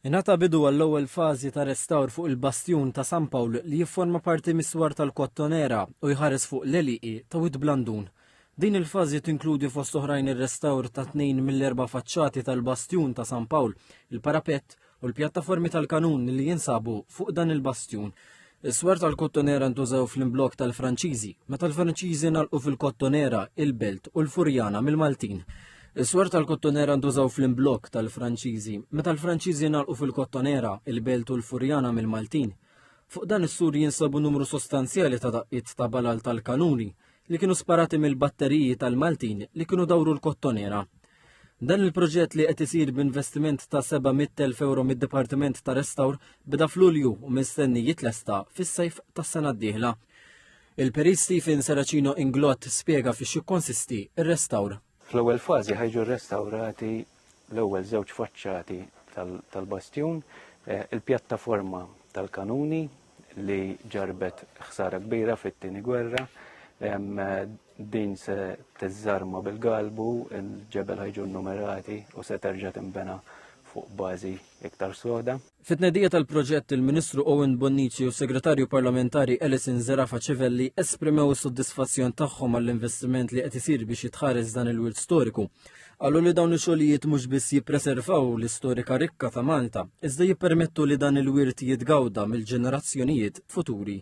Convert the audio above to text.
Ingħata bidu għall-ewwel fażi ta' restawr fuq il-bastjun ta' San Pawl li jifforma parti mis-swar tal-Kottonera u jħares fuq l-għelieqi ta' Wied Blandun. Din il-fażi tinkludi fost oħrajn ir-restawr ta' tnejn mill-erba' faċċati tal-bastjun ta' San Pawl, il-parapett u l-pjattaformi tal-kanun li jinsabu fuq dan il-bastjun. Is-swar tal-Kottonera ntużaw fl-imblokk tal-Franċiżi, meta l-Franċiżi nalqu fil-Kottonera, il-Belt u l-Furjana mill-Maltin. Is-swar tal-Kottonera ntużaw fl-imblokk tal-Franċiżi, meta l-Franċiżi nalqu fil-Kottonera, il-Belt u l-Furjana mill-Maltin. Fuq dan is-sur jinsabu numru sostanzjali ta' daqqiet ta' balal tal-kanuni, li kienu sparati mill-batteriji tal-Maltin li kienu dawru l-kottonera. Dan il-proġett li qed isir b'investiment ta' 700,000 euro mid-Dipartiment ta' Restawr beda f'Lulju u mistenni jitlesta fis-sajf tas-sena d-dieħla. Il-Perit Stephen Seracino Inglott spjega fiex jikkonsisti r-restawr. Fl-ewwel fażi ħajġu rrestawrati l-ewwel żewġ faċċati tal-bastjun, il-pjattaforma tal-kanuni li ġarrbet ħsara kbira fit-Tieni Gwerra, din se tiżżarma bil-galbu, il-ġebel ħa jġu nnumerati u se terġa' tinbena fuq bażi iktar soda. Fit-tnedija tal-proġett, il-Ministru Owen Bonnici u s-Segretarju Parlamentari Alison Zerafa Civelli esprimew is-sodisfazzjon tagħhom għall-investiment li qed isir biex jitħares dan il-wirt storiku. Qalu li dawn ix-xogħlijiet mhux biss jippreservaw l-istorika rikka ta' Malta, iżda jippermettu li dan il-wirt jitgawda mill-ġenerazzjonijiet futuri.